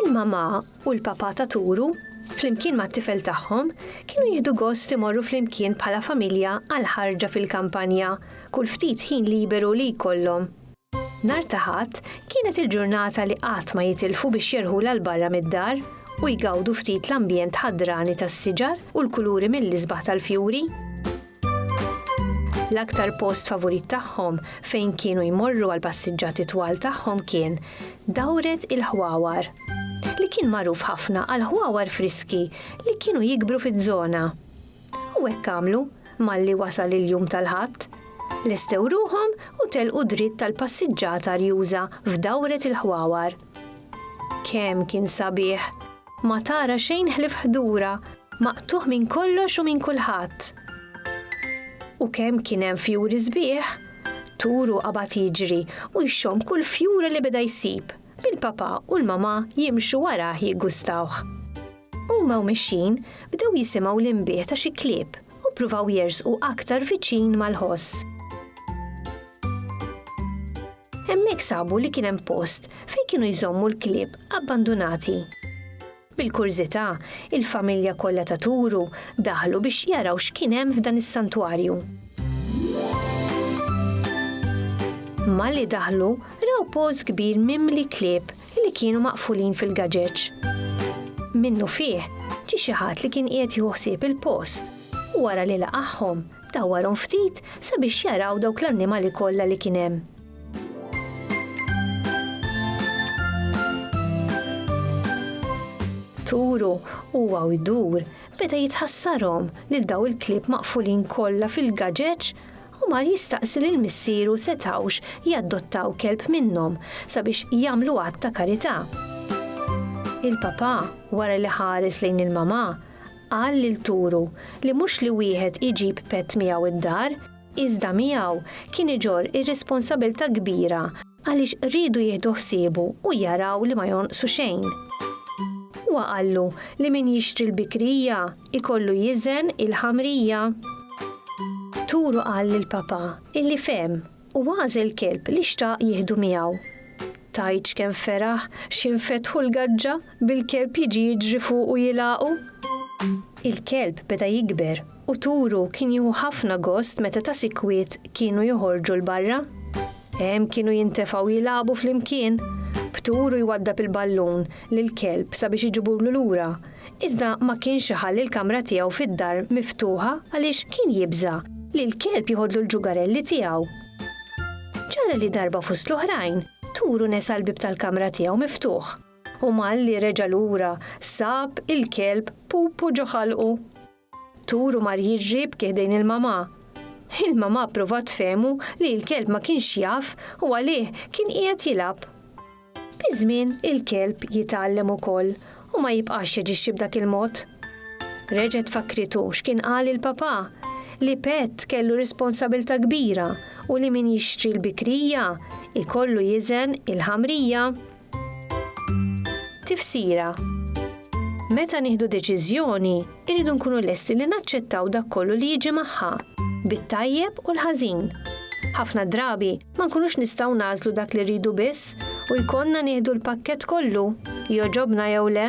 Il-mamà u l-papà ta' Turu, flimkien mat-tifel tagħhom, kienu jieħdu gost imorru flimkien bħala familja għal ħarġa fil-kampanja kull ftit ħin liberu li jkollhom. Nhar ta' Ħadd kienet il-ġurnata li qatt ma jitilfu biex jerħulha 'l barra mid-dar u jgawdu ftit l-ambjent ħadrani tas-siġar u l-kuluri mill-isbaħ tal-fjuri. L-aktar post favurit tagħhom fejn kienu jmorru għal passiġġati twal tagħhom kien dawret il-ħwawar li kien magħruf ħafna għal ħwawar friski li kienu jikbru fiż-żona. U hekk għamlu malli wasal il-jum tal-ħadd. Lestew ruhom u telqu dritt tal-passiġġata rjuża f'dawret il-ħwawar. Kemm kien sabiħ! Ma tara xejn ħlief ħdura, maqtugħ minn kollox u minn kulħadd. U kemm kien hemm fjuri sbieħ! Turu qabad jiġri u jxomm kull fjura li beda jsib, bil-papà u l-mamà jimxu warah jiggustawh. Huma u mixjin, bdew jisimgħu l-inbih ta' xi klieb u ppruvaw jersqu aktar viċin mal-ħoss. Hemmhekk sabu li kien hemm post fejn kienu jżommu l-klieb abbandunati. Bil-kurżità, il-familja kollha ta' Turu daħlu biex jaraw x'kien hemm f'dan is-santwarju. Malli daħlu, raw post kbir mimli klieb li kienu maqfulin fil-gaġeġ. Minnufih, ġie xi ħadd li kien qiegħed jieħu ħsieb il-post u wara li laqagħhom, Dawwarhom ftit sabiex jaraw dawk l-annimali kollha li kien hemm. Turu huwa u jdur beda jitħassarhom lil daw il-klieb maqfulin kollha fil-gaġeġ u mar jistaqsi lil missieru setgħux jaddottaw kelb minnhom sabiex jagħmlu att ta' karità. Il-papà, wara li ħares lejn il-mamà, Qal li lturu li mhux li wieħed iġib pett miegħu d-dar, iżda miegħu kien iġorr ir-responsabilità kbira għaliex riedu jieħdu ħsiebu u jaraw li ma jonqsu xejn. Huwa qallu li min jixtri l-bikrija jkollu jiżen il-ħamrija. Lturu qal lill-Papa illi fehem U għażel kelb li xtaq jieħdu miegħu. Tgħidx kemm feraħ x'infetħu l-gaġġa bil-kelb jiġi jiġri fuqu jilgħaqu! Il-kelb beda jikber u turu kien jieħu ħafna gost meta ta' sikwit kienu joħorġu 'l barra. Hemm kienu jintefgħu jilagħbu flimkien, b'turu jwaddab il-ballun lill-kelb sabiex iġibulu lura, iżda ma kienx iħalli l-kamra tiegħu fid-dar miftuħa għaliex kien jibża' li l-kelb jiħodlu l-ġugarelli tiegħu. Ġara li darba fost l-oħrajn, Turu nesa l-bieb tal-kamra tiegħu miftuħ u malli reġa' lura sab il-kelb Pupu ġo ħalqu. Tur u mar jiġri b'ki ħdejn il-mamà. Il-mamà pprovat tfehmu li l-kelb ma kienx jaf u għalih kien qiegħed jilgħab. Biż-żmien il-kelb jitgħallem ukoll u ma jibqax jaġixxi b'dak il-mod. Reġgħet fakkritu x'kien qal il-papà, li pett kellu responsabilità kbira u li min jixtri l-bikrija jkollu jiżen il-ħamrija. Tifsira Meta nieħdu deċiżjoni, irridu nkunu lesti li naċċettaw dak kollu li jiġi magħha, bit-tajjeb u l-ħażin. Ħafna drabi ma nkunux nistgħu nagħżlu dak li rridu biss u jkollna nieħdu l-pakkett kollu, joġobna jew le.